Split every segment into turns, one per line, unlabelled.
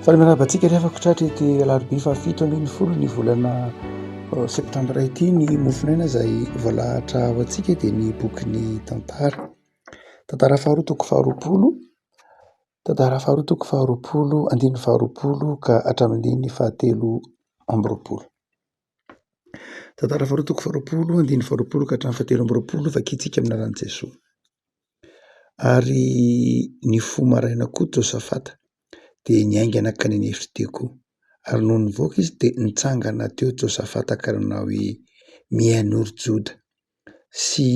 Faly miarahaba antsika ry havako tratra ity alarobia fahafito ambin'ny folo ny volana euh, septambra ity ny mofonena izay voalahatra ho antsika dia ny bokin'ny tantara tantara faharoa toko faharoapolo tantara faharoa toko faharoapolo andininy faharoapolo ka hatramin'ny fahatelo amby roapolo Tantara faharoa toko faharoapolo andininy faharoapolo ka hatramin'ny fahatelo amby roapolo ny vakintsika amin'ny anaran'i Jesoa. Ary ny fo maraina koa Josafata dia niaingana ka ninefy teo koa. Ary nony nivoaka izy dia nitsangana teo Josafata ka nanao hoe, Mihainoa ry Joda sy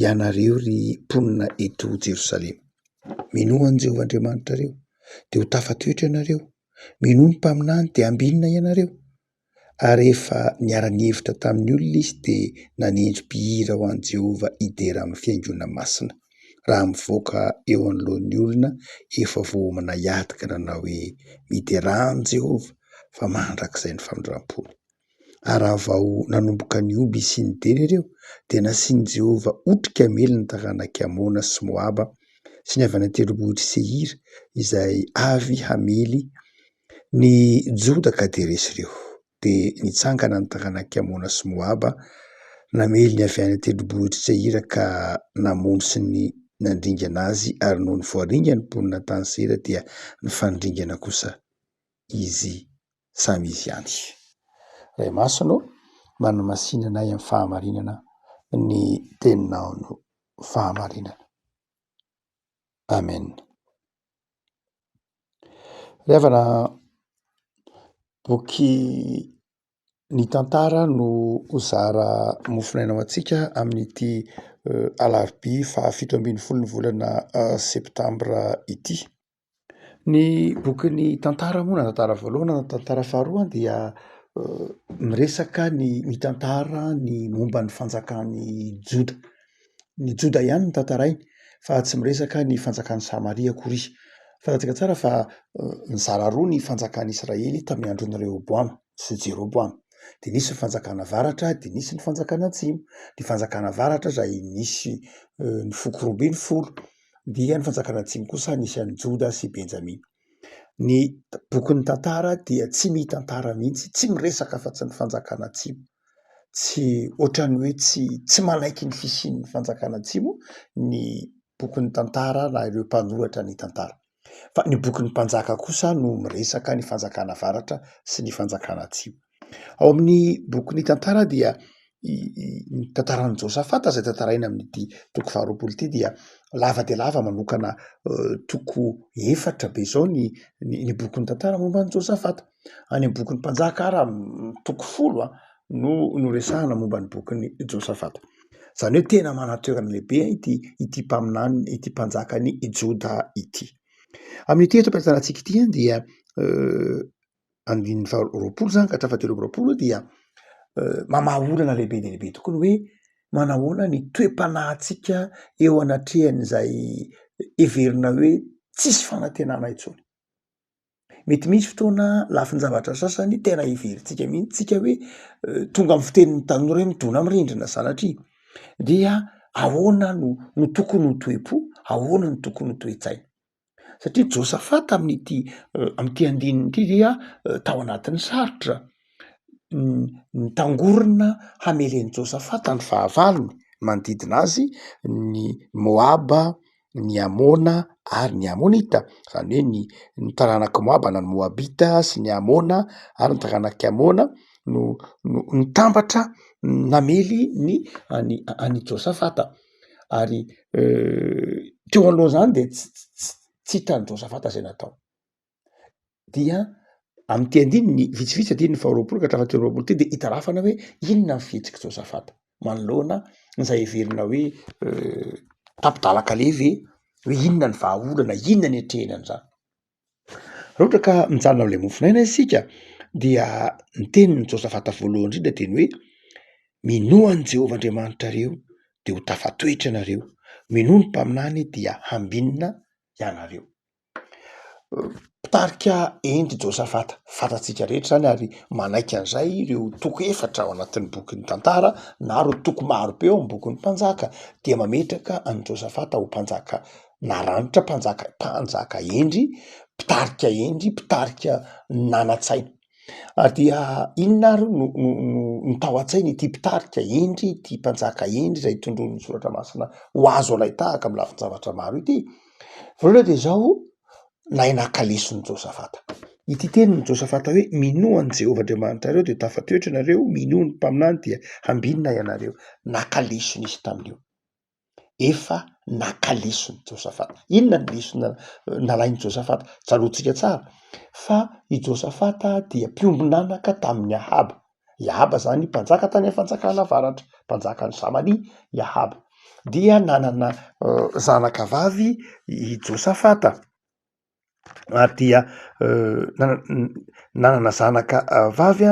ianareo ry mponina eto Jerosalema. Minoa an'i Jehovah Andriamanitrareo dia ho tafatoetra ianareo, minoa ny mpaminany dia hambinina ianareo ary rehefa niara-nihevitra tamin'ny olona izy dia nanendry mpihira ho an'i Jehovah hidera amin'ny fihaingoana masina, raha mivoaka eo anoloan'ny olona efa voaomana hiady ka nanao hoe, Miderà an'i Jehovah, fa mandrakizay ny famindram-pony. Ary raha vao nanomboka nihoby sy nidera ireo, dia nasian'i Jehovah otrika miely ny taranak'i Amona sy Moaba sy ny avy any an-tendrombohitr'i Seira, izay avy hamely Ny Joda ka dia resy ireo. Dia nitsangana ny taranak'i Amona sy Moaba, namely ny avy any an-tendrombohitr'i Seira ka namono sy nandringana azy, ary nony voaringan' ny mponina tany Seira dia nifanindringana kosa izy samy izy ihany. Ray Masina ô, manamasina anay amin'ny fahamarinana ny teninao no fahamarinana. Amen. Fanaovana boky ny tantara no ho zara mofonaina ho antsika amin'ity alarobia fahafito ambin'ny folo ny volana septambra ity. Ny boky ny tantara moa na tantara voalohany na tantara faharoa dia miresaka ny mitantara ny momba ny fanjakan'i Joda. Ny Joda ihany no tantarainy fa tsy miresaka ny fanjakan'i Samaria akory. Fantatsika tsara fa nizara roa ny fanjakan'i Israely tamin'ny andron'i Rehoboama sy Jeroboama. Dia nisy ny fanjakana avaratra dia nisy ny fanjakana atsimo. Ny fanjakana avaratra izay nisy ny foko roa ambin'ny folo dia ny fanjakana atsimo kosa nisy an'i Joda sy Benjamina. Ny bokin'ny tantara dia tsy mitantara mihitsy, tsy miresaka afa-tsy ny fanjakana atsimo. Tsy ohatran'ny hoe tsy tsy manaiky ny fisian'ny fanjakana atsimo ny bokin'ny tantara na ireo mpanoratra ny tantara. Fa ny bokin'ny mpanjaka kosa no miresaka ny fanjakana avaratra sy ny fanjakana atsimo. Ao amin'ny boky ny tantara dia ny tantaran'i Josafata izay tantaraina amin'ity toko faharoapolo ity dia lava dia lava manokana toko efatra be izao ny ny boky ny tantara momba an'i Josafata. Any amin'ny boky ny mpanjaka ary toko folo a no no resahana momba ny boky ny Josafata. Izany hoe tena manantoerana lehibe ity ity mpaminany ity mpanjaka ny Joda ity. Amin'ity eto am-pitantanantsika ity dia andininy faharoapolo zany ka hatrafa telo amby roapolo dia mamaha olana lehibe dia lehibe tokoa ny hoe manahoana ny toe-panahintsika eo anatrehan'izay heverina hoe tsisy fanantenana intsony mety misy fotoana lafin-javatra sasany tena heverintsika mihitsy tsika hoe tonga amin'ny fitenin'ny tanora hoe midona amin'ny rindrina sanatria dia ahoana no no tokony ho toe-po ahoana no tokony ho toe-tsaina satria Josafata amin'ity amin'ity andininy ity dia tao anatin'ny sarotra, nitangorona hamelen'i Josafata ny fahavalony manodidina azy ny Moaba, ny Amona ary ny Amonita, izany hoe ny ny taranak'i Moaba na ny Moabita sy ny Amona ary ny taranak'i Amona no no nitambatra namely ny an'i an'i Josafata. ary teo alohan'izany dia tsy tsy hitan'i Josafata izay natao dia amin'ity andininy vitsivitsy andininy faharoapolo ka hatramin'ny telo amby roapolo ity dia itarafana hoe inona ny fihetsik'i Josafata manoloana izay heverina hoe tapi-dalan-kaleha ve hoe inona ny vahaolana inona ny atrehina an'izany Raha ohatra ka mijanona amin'ilay mofonaina isika dia ny tenin'i Josafata voalohany indrindra dia ny hoe minoa an'i Jehovah Andriamanitrareo dia ho tafatoetra ianareo, minoa ny mpaminany dia hambinina ianareo. Mpitarika henoko i Josafata fantatsika rehetra izany ary manaiky an'izay ireo toko efatra ao anatin'ny bokin'ny Tantara na ireo toko marobe ao amin'ny bokin'ny Mpanjaka dia mametraka an'i Josafata ho mpanjaka. naranitra, mpanjaka mpanjaka hendry, mpitarika hendry, mpitarika nanan-tsaina. Ary dia inona ary no no no no tao an-tsain' ity mpitarika hendry ity mpanjaka hendry izay tondroin'ny soratra masina ho azo alain-tahaka amin'ny lafin-javatra maro ity? Voalohany dia izao, nahay naka lesona Josafata. Ity tenin'i Josafata hoe minoa an'i Jehovah Andriamanitrareo dia tafatoetra ianareo, minoa ny mpaminany dia hambinina ianareo. Naka lesona izy tamin'io. efa naka lesona i Josafata. Inona ny lesona nalain'i Josafata? Tsaroantsika tsara fa i Josafata dia mpiombon'anaka tamin'i Ahaba. I Ahaba izany mpanjaka tany amin'ny fanjakana avaratra, mpanjakan'i Samaria i Ahaba. Dia nanana zanakavavy i Josafata. ary dia nanana zanaka vavy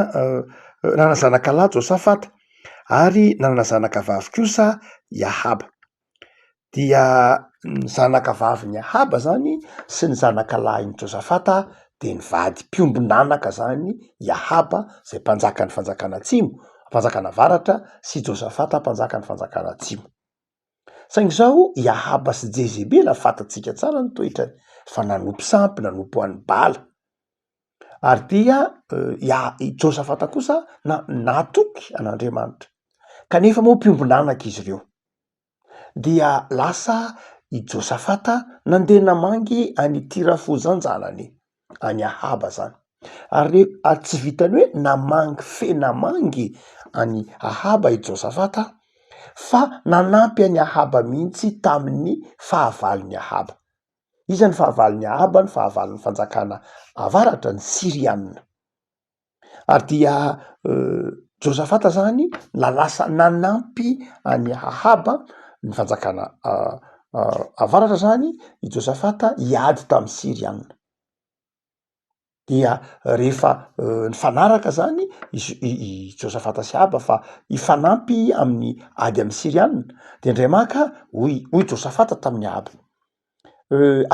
nanana zanaka lahy Josafata ary nanana zanaka vavy kosa i Ahaba dia ny zanaka vavin'i Ahaba izany sy ny zanaka lahin'i Josafata dia nivady mpiombon'anaka izany i Ahaba izay mpanjakan'ny fanjakana atsimo, mpanjakana avaratra sy Josafata mpanjakan'ny fanjakana atsimo. Saingy izao i Ahaba sy Jezebela fantatsika tsara ny toetrany fa nanompo sampy, nanompo an'i Bala. Ary dia i Josafata kosa na natoky an'Andriamanitra. Kanefa moa mpiombon'anaka izy ireo. Dia lasa i Josafata nandeha namangy an'i Tirafoza an-janany. any ahaba zany ary le ary tsy vitany hoe namangy fe namangy any ahaba i josafata fa nanampy any ahaba mihitsy tamin'ny fahavalony ahaba iza ny fahavalony ahaba ny fahavalony fanjakana avaratra ny sirianina Ary dia Josafata zany na lasa nanampy an'i Ahaba ny fanjakana avaratra zany i Josafata hiady tamin'ny Syriana. Dia rehefa nifanaraka zany izy i Josafata sy Ahaba fa hifanampy amin'ny ady amin'ny Syriana dia ndray maka hoy hoy Josafata tamin'i Ahaba,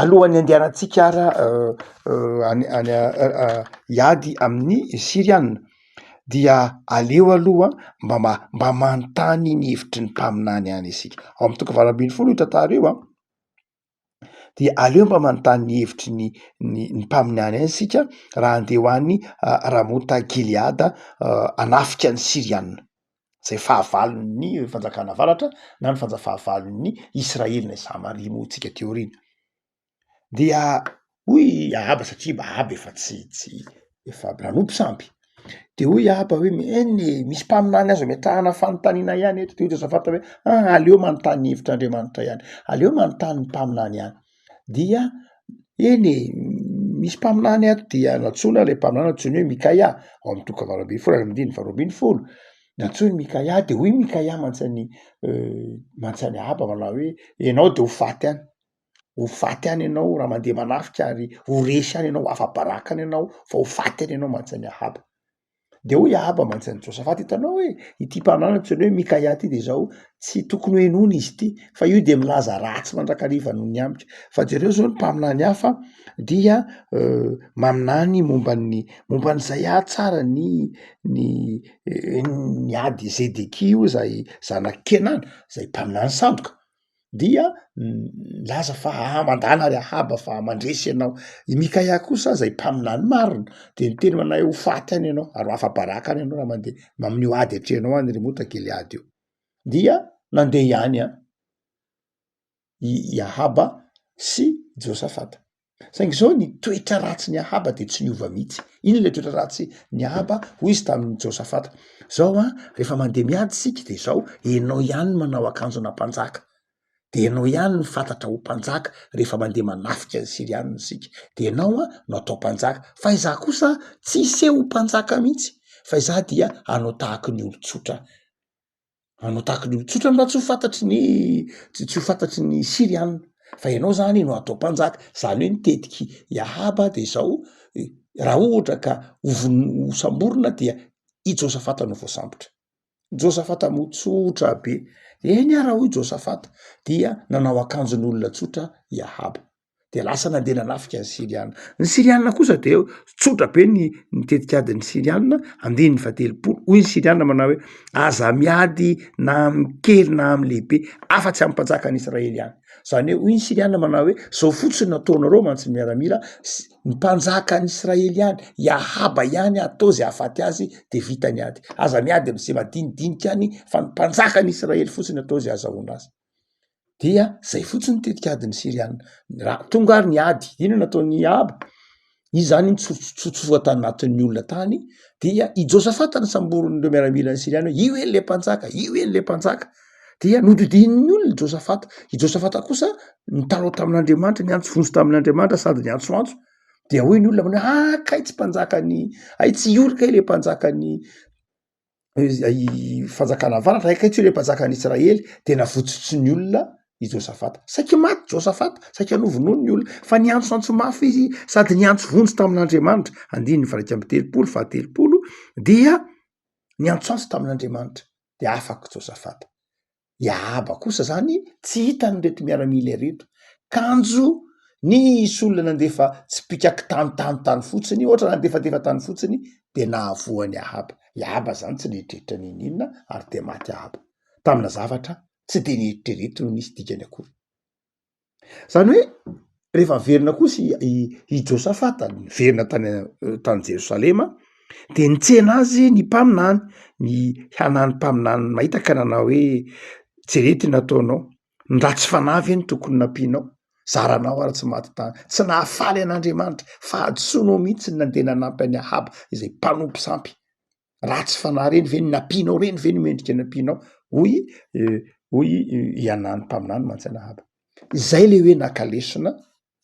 Alohan'ny andehanantsika ara any any hiady amin'ny Siriana dia aleo aloha mba ma- mba manontany ny hevitry ny mpaminany ihany isika, ao amin'ny toko valo ambin'ny folo io tantara io an, dia aleo mba manontany ny hevitry ny ny ny mpaminany ihany isika raha andeha ho any Ramota Gileada hanafika ny Siriana. izay fahavalon'ny fanjakana avaratra na ny fanja- fahavalon'ny Israely na i Samaria moa tsika teo aoriana. Dia hoy i Ahaba satria Ahaba efa tsy tsy efa nanompo sampy de hoy i Ahaba hoe mi- eny e misy mpaminany azo ametrahana fanontaniana ihany eto de hoy Josafata hoe an aleo manontany ny hevitr'Andriamanitra ihany aleo manontany ny mpaminany ihany. dia eny e, misy mpaminany ato dia nantsoina ilay mpaminany antsoiny hoe Mikaia, ao amin'ny toko fahavalo ambin'ny folo ary andininy faharoa ambin'ny folo, nantsoiny Mikaia dia hoy Mikaia mantsany mantsany Ahaba manao hoe ianao dia ho faty any, ho faty any ianao raha mandeha manafika ary ho resy any ianao, ho afa-baraka any ianao fa ho faty any ianao mantsany Ahaba. De hoy Ahaba mantsy an'i Josafata, hitanao hoe ity mpanahy antsoina hoe Mikaia ity de izao tsy tokony ho henoina izy ity, fa io dia milaza ratsy mandrakariva noho ny amiko. Fa jereo izao ny mpaminany hafa dia maminany momba ny momba an'izay ary tsara ny ny ny ady Zedekia io izay zanak'i Kenana, izay mpaminany sandoka. dia milaza fa ah mandàna ry ahaba fa mandresy ianao i mikaia kosa zay mpaminany marina de niteny ho anay ho faty any ianao ary ho afa-baraka any ianao raha mandeha mamin'io ady atrehanao any ry mota giliady io dia nandeha ihany an i ahaba sy josafata Saingy izao ny toetra ratsin'i Ahaba dia tsy niova mihitsy. Inona ilay toetra ratsin'i Ahaba? Hoy izy tamin'i Josafata, izao a, rehefa mandeha miady isika dia izao, ianao ihany no manao akanjona mpanjaka, dia ianao ihany no fantatra ho mpanjaka rehefa mandeha manafika ny Syrianina isika, dia ianao a no atao mpanjaka, fa izaho kosa tsy hiseho ho mpanjaka mihitsy, fa izaho dia hanao tahaka ny olon-tsotra. manao tahaka ny olo tsotra mba tsy ho fantatry ny tsy tsy ho fantatry ny siriana fa ianao zany no atao mpanjaka zany hoe ny tetiky i ahaba de zao raha ohatra ka ho vono- ho samborina dia i josafata no voasambotra josafata moa tsotra be eny ah raha hoy josafata dia nanao akanjon'olona tsotra i ahaba. de lasa nandeha nanafika ny siriana ny siriana kosa de tsotra be ny ny tetikady ny siriana andininy fa telopolo hoy ny siriana manao hoe aza miady na amkely na amy lehibe afa-tsy amy mpanjaka any israely ihany zany hoe hoy ny siriana manao hoe zao fotsiny nataonareo mantsy ny miaramila sy ny mpanjaka any israely ihany iahaba ihany atao zay ahafaty azy de vita ny ady aza miady am'ze madinidinika any fa ny mpanjaka any israely fotsiny atao zay azahoana azy dia zay fotsiny tetik'adin'ny Syriana. Raha tonga ary ny ady, inona no ataon'i Ahaba? Izy zany iny tsotsotsotsoa tanatin'ny olona tany dia i Josafata no samborin'ireo miaramilan'ny Syriana hoe io eny le mpanjaka, io eny le mpanjaka. Dia nodidinin'ny olona i Josafata. I Josafata kosa nitarao tamin'Andriamanitra, niantso vonjy tamin'Andriamanitra sady niantsoantso. Dia hoy ny olona manao hoe ah kay tsy mpanjakan'ny, hay tsy io kay le mpanjakan'ny fanjakana avaratra akaiky tsy hoe le mpanjaka any Israely de navotsotry ny olona i Josafata saiky maty Josafata saiky hanovonono ny olona fa niantso antso mafy izy sady niantso vonjy tamin'Andriamanitra andininy varaika amby telopolo fa telopolo dia niantsoantso tamin'Andriamanitra de afaka Josafata i Ahaba kosa zany tsy hitany ireto miaramila ireto, kanjo nisy olona nandefa tsipika kitanontano tany fotsiny ohatra nandefadefa tany fotsiny de nahavoa an'i Ahaba, i Ahaba zany tsy nieritreritra n'inon'inona ary de maty Ahaba, tamina zavatra tsy de nieritrerety no nisy dikany akory. zany hoe rehefa averina kosa i josafata niverina tany tany jerosalema de nitsena azy ny mpaminany ny hanany mpaminany mahita ka nanao hoe jereo ty nataonao ny raha tsy fanahy ve no tokony nampianao zaranao ary tsy maty tany tsy nahafaly an'andriamanitra fahadisoanao mihitsy ny nandeha nanampy any ahaba izay mpanompo sampy ratsy fanahy reny ve ny nampianao reny ve no mendrika ny ampianao hoy hoy i anany mpaminany mantsanahaba izay le hoe naka lesona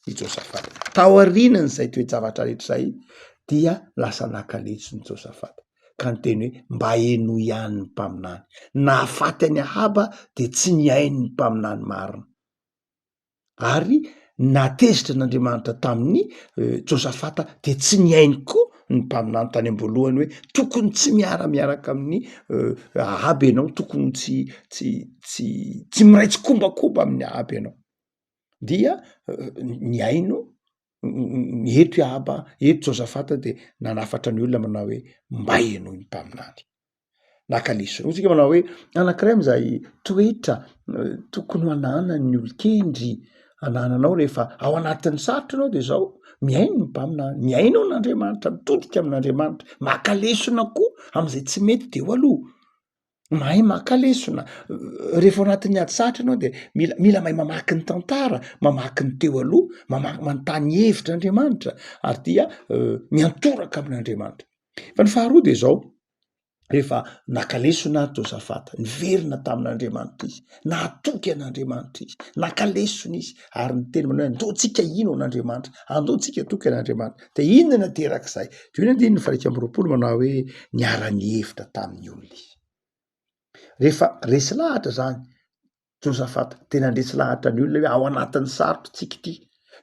i josafata taorianan'izay toe-javatra rehetra izay dia lasa naka lesona i josafata ka ny teny hoe mba henoy ihany ny mpaminany nahafaty any ahaba de tsy ny hain'ny mpaminany marina ary natezitra an'andriamanitra tamin'ny josafata de tsy ny ainy koa ny mpaminany tany amboalohany hoe tokony tsy miaramiaraka amin'ny ahaby ianao tokony tsy tsy tsy tsy miray tsy kombakomba amin'ny ahaby ianao dia ny aino ny eto iahaba eto josafata de nanafatra ny olona manao hoe mba ianao ny mpaminany Naka lesona. Hoy isika manao hoe anankiray amin'izay toetra tokony hananan'ny olon-kendry anananao rehefa ao anatin'ny sarotra anao de zao, mihaino ny mpaminany, mihaino an'Andriamanitra, mitodika amin'Andriamanitra, maka lesona koa am'izay tsy mety de eo aloha, mahay maka lesona, rehefa ao anatin'ny ady sarotra ianao de mila mila mahay mamaky ny tantara, mamaky ny teo aloha, mamaky manontany hevitra Andriamanitra ary dia miantoraka amin'Andriamanitra. Fa ny faharoa de zao, rehefa naka lesona ary Josafata, niverina tamin'Andriamanitra izy, nahatoky an'Andriamanitra izy, naka lesona izy, ary ny teny manao andoantsika ino an'Andriamanitra, andoantsika toky an'Andriamanitra. Dia inona no aterak'izay? Dia io andininy fahaika amby roapolo manao hoe niara-nihevitra tamin'ny olona izy. Rehefa resy lahatra zany, Josafat, dia nandresy lahatra ny olona hoe ao anatin'ny sarotr'tsika ity,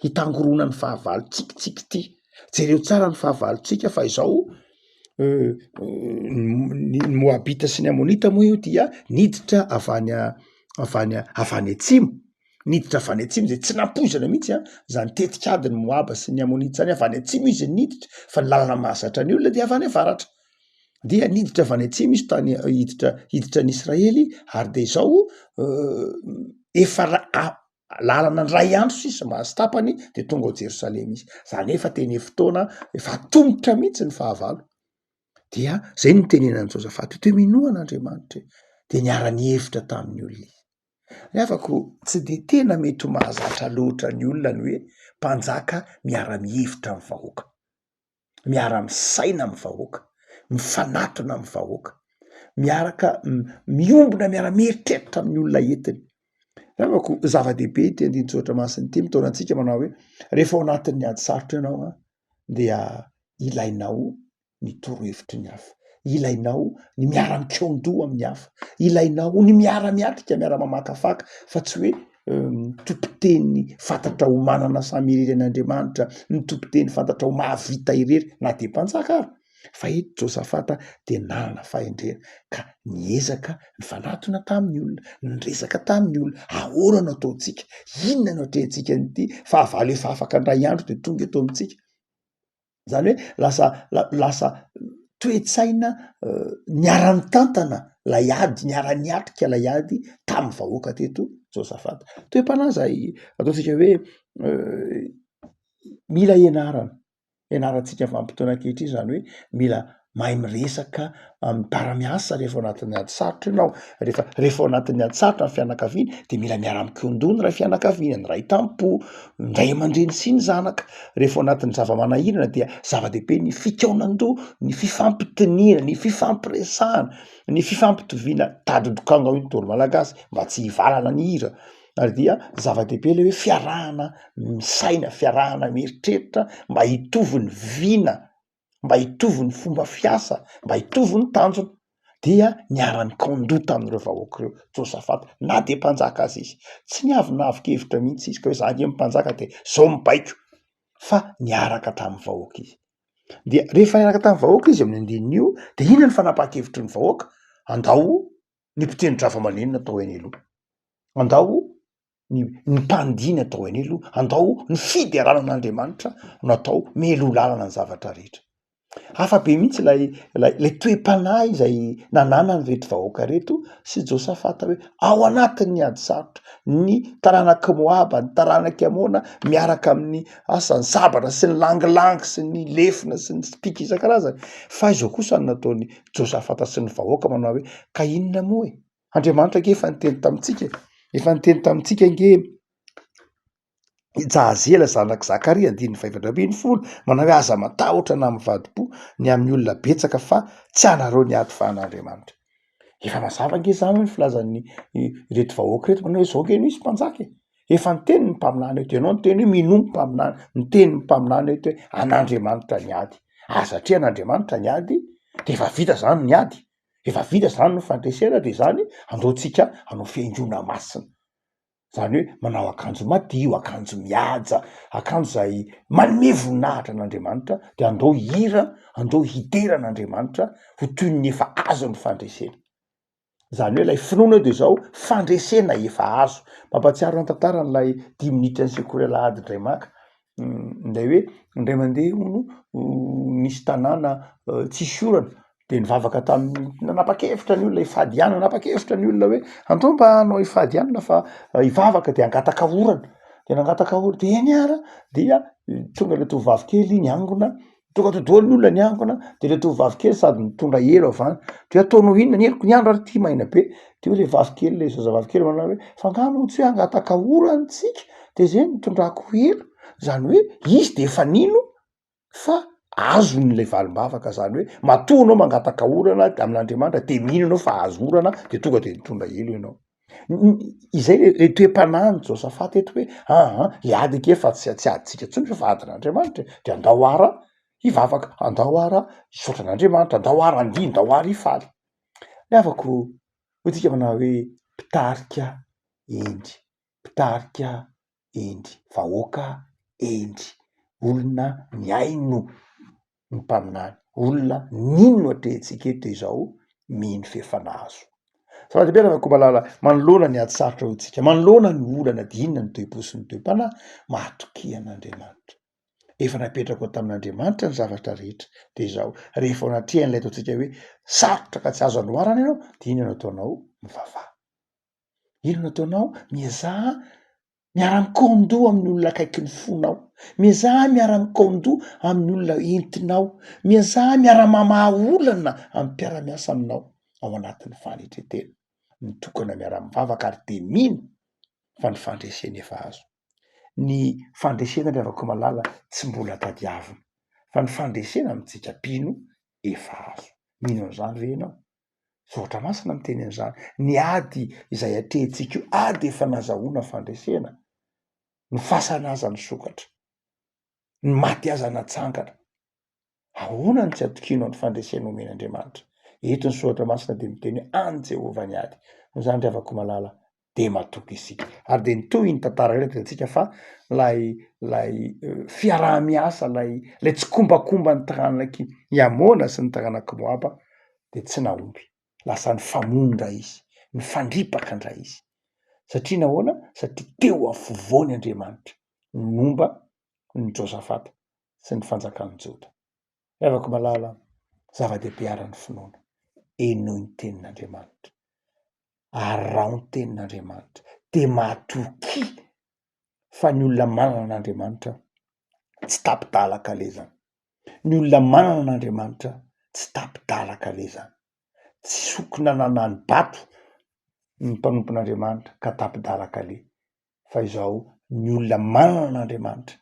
hitangorona ny fahavalontsika tsika ity, jereo tsara ny fahavalontsika fa izao euh, ny moabita sy ny amonita moa io dia niditra avy any avy any avy any atsimo niditra avy any atsimo zay tsy nampoizana mihitsy a zany tetikady ny moaba sy ny amonita zany avy any atsimo izy niditra fa ny lalana mahazatra ny olona dia avy any avaratra dia niditra avy any atsimo izy tany hiditra hiditra any Israely ary de zao efa ra- lalana ndray andro sisa mba sy tapany de tonga ao Jerosalema izy zany hoe efa teny fotoana efa atombotra mihitsy ny fahavalo dia zay no tenenan'i Josafaty te minoa an'Andriamanitra e de niara-nihevitra tamin'ny olona izy ny havako tsy de tena mety ho mahazatra loatra ny olona ny hoe mpanjaka miara-mihevitra ny vahoaka miara misaina amin'ny vahoaka, mifanatona amin'ny vahoaka, miaraka miombona miara mieritreritra amin'ny olona entiny. Angako zava-dehibe ity andinin-tsoratra masina ity mitaona antsika manao hoe rehefa ao anatin'ny ady sarotra ianao a dia ilainao ny torohevitry ny hafa, ilainao ny miara-mikaon-doha amin'ny hafa, ilainao ny miara-miatrika, miara-mamakafaka fa tsy hoe tompon-teny fantatra ho manana samy irery an' Andriamanitra, ny tompon-teny fantatra ho mahavita irery na dia mpanjaka ary, fa eto Josafata dia nanana fahendrena ka niezaka nifanatona tamin'ny olona, niresaka tamin'ny olona, ahoana no ataontsika, inona no atrehantsika an'ity fahavalo efa afaka indray andro dia tonga eto amintsika. zany hoe lasa lasa toe-tsaina niara-nitantana lay ady niara-niatrika lay ady tamin'ny vahoaka teto josafata toe-panahy zay ataontsika hoe mila ianarana ianarantsika vanim-potoana ankehitriny zany hoe mila mahay miresaka miara-miasa rehefa ao anatin'ny ady sarotra ianao rehefa rehefa ao anatin'ny ady sarotra ny fianakaviana dia mila miara-mikondona ny iray fianakaviana ny iray tampo ny ray aman-dreny sy ny zanaka rehefa ao anatin'ny zava-manahirana dia zava-dehibe ny fikaonandoha ny fifampitoniana ny fifampiresahana ny fifampitoviana tadidokanga io tontolo malagasy mba tsy hivalana ny hira ary dia zava-dehibe le hoe fiarahana misaina fiarahana mieritreritra mba hitovy ny vina mba hitovy ny fomba fiasa, mba hitovy ny tanjona dia niara-nikaon-doha tamin'ireo vahoaka ireo Josafata na dia mpanjaka aza izy, tsy niavonavon-kevitra mihitsy izy ka hoe za nge mpanjaka de zao mibaiko fa niaraka hatramin'ny vahoaka izy, dia rehefa niaraka tamin'ny vahoaka izy amin'ny andininy de inona ny fanapahan-kevitry ny vahoaka, andao ny mpiteni-dRavalomanana atao eny aloha, andao. ny ny mpandiny atao eny aloha andao ny fiderana an'Andriamanitra no atao meloa lalana ny zavatra rehetra, hafa be mihitsy lay lay lay toe-panahy izay nananany reto vahoaka reto sy Josafata hoe ao anatin'ny ady sarotra ny taranak'i Moaba ny taranak'i Amona miaraka amin'ny asa ny sabatra sy ny langilangy sy ny lefona sy ny spika isan-karazany fa izao kosa ny nataon'i Josafata sy ny vahoaka manao hoe ka inona moa e? Andriamanitra ange efa niteny tamintsika, efa niteny tamintsika ange i Jahazela zanak'i Zakaria andininy fahaefatra ambin'ny folo manao hoe aza matahotra na mivadi-po ny amin'ny olona betsaka fa tsy anareo ny ady fa an'Andriamanitra. Efa mazava ange izany hoe ny filazan'ny ireto vahoaka ireto manao hoe izao ange no hisy mpanjaka e. Efa niteny ny mpaminany eto, ianao niteny hoe minoa ny mpaminany, niteny ny mpaminany eto hoe an'Andriamanitra ny ady ary satria an'Andriamanitra ny ady dia efa vita izany ny ady. efa vita zany ny fandresena de zany aleontsika hanao fihaingoana masina, zany hoe manao akanjo madio, akanjo mihaja, akanjo zay manome voninahitra an'Andriamanitra de andao hihira, andao hidera an'Andriamanitra ho toy ny efa azo ny fandresena, zany hoe lay finoana eo de zao fandresena efa azo, mampahatsiaro ny tantaran'ilay dimy minitra nisekory alahady indray maka, Ilay hoe indray mandeha hono nisy tanàna tsisy orana de nivavaka tamin'ny nanapa-kevitra ny olona hifady ihany, nanapa-kevitra ny olona hoe andao mba hanao hifady ihany fa hivavaka de hangataka orana de nangataka orana de niara dia tonga ilay tovovavy kely niangona tonga to doany ny olona ny ankona de le tovovavy kely sady mitondra elo avy any de ataonao inona ny eloko ny andro ary ty maina be de hoe le vavikely le zazavavy kely manao hoe fa angaha moa tsy hoe hangataka-ora antsika de zay nitondrako elo zany hoe izy de efa nino fa azony le valim-bavaka zany hoe matoa anao mangataka orana amin'Andriamanitra de mino anao fa azo orana de tonga de nitondra elo ianao izay le le toe-panahin'i Josafata eto hoe aa le ady ake fa tsy tsy adintsika intsony fa fa adin'Andriamanitra e, de andao ara hivavaka, andao ara hisaotra an'Andriamanitra, andao ara handihy, andao ara hifaly, ny havako hoy tsika manao hoe mpitarika hendry, mpitarika hendry vahoaka hendry olona mihaino ny mpaminany olona nino atrehintsika eto izao mino f'efa nahazo Salady be anarako malala manoloana ny ady sarotra ho antsika manoloana ny olana dinina ny toe-po sy ny toe-panahy mahatokia an'Andriamanitra efa napetrako ao tamin'Andriamanitra ny zavatra rehetra dia izao rehefa ao anatrehan'ilay ataontsika hoe sarotra ka tsy azo anoharana ianao dia inona no ataonao mivavaha Inona ataonao? Miezaha miara-mikaon-doha amin'ny olona akaiky ny fonao, miezaha miara-mikaon-doha amin'ny olona entinao, miezaha miara-mamaha olana amin'ny mpiara-miasa aminao ao anatin'ny fanetren-tena. Mitokana miara-mivavaka ary dia mino fa ny fandresena efa azo. Ny fandresena ry havako malala tsy mbola tadiavina fa ny fandresena amintsika mpino efa azo. Mino an'izany ve ianao? Soratra Masina miteny an'izany. Ny ady izay atrehintsika io, ady efa nazahoana fandresena. Ny fasana aza nisokatra. Ny maty aza natsangana. Ahoana no tsy hatokianao ny fandresena omen'Andriamanitra? Eto ny Soratra Masina dia miteny hoe an'i Jehovah ny ady. Noho izany ry havako malala, dia matoky isika. Ary dia nitohy iny tantara iny, hitantsika fa ilay ilay fiaraha-miasa, ilay ilay tsikombakomba ny taranak'i Amôna sy ny taranak'i Moaba dia tsy nahomby. Lasa nifamono indray izy, nifandripaka indray izy. Satria nahoana? Satria teo afovoany Andriamanitra momba ny Josafata sy ny fanjakan'i Joda. Ry havako malala, zava-dehibe àry ny finoana. Henoy ny tenin'Andriamanitra, araho ny tenin'Andriamanitra, dia matokia fa ny olona manana an'Andriamanitra tsy tapi-dalaka lezany, ny olona manana an'Andriamanitra tsy tapi-dalaka lezany, tsy sokina nanano bato ny mpanompon'Andriamanitra ka tapi-dalaka le fa izao ny olona manana an'Andriamanitra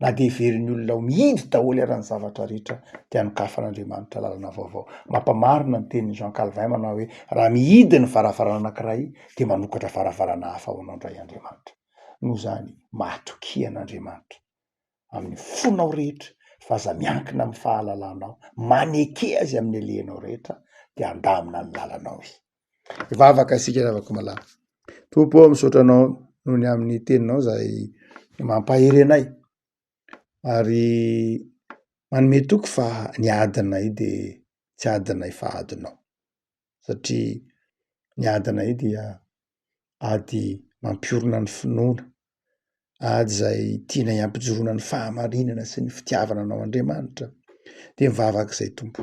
na dia heverin'ny olona ho mihinjy daholo ary ny zavatra rehetra, dia anokafan'Andriamanitra lalana vaovao. Mampamarina ny tenin'i Jean Calvin manao hoe, Raha mihidy ny varavarana anankiray, dia manokatra varavarana hafa ho anao indray Andriamanitra. Noho izany, mahatokia an'Andriamanitra amin'ny fonao rehetra, fa aza miankina amin'ny fahalalanao, maneke Azy amin'ny halehanao rehetra, dia handamina ny lalanao Izy. Hivavaka isika ry havako malala. Tompo ô, misaotra Anao noho ny amin'ny teninao izay mampahery anay ary manome toky fa ny adinay dia tsy adinay fa adinao satria ny adinay dia ady mampiorina ny finoana. ady izay tianay hampijoroana ny fahamarinana sy ny fitiavana anao Andriamanitra dia mivavaka izay Tompo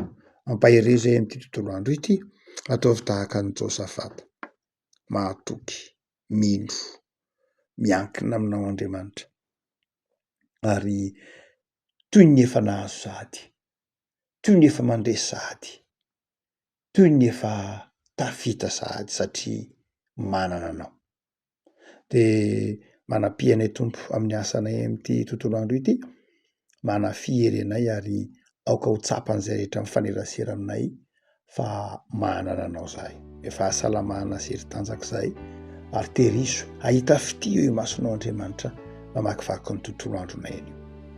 ampaherezo ahy amin'ity tontolo andro ity ataovy tahaka an'i Josafata mahatoky mino miankina aminao Andriamanitra ary toy ny efa nahazo sahady toy ny efa mandre sahady toy ny efa tafita sahady satria manana anao de manampi anay Tompo amin'ny asanay amin'ity tontolo andro ity, manafy hery anay ary aoka ho tsapan'izay rehetra mifanerasera aminay fa manana anao zahay, ny fahasalamana sy hery tanjaka izay ary terizo hahita fitia eo imasonao Andriamanitra namakivaky ny tontolo andronay anio.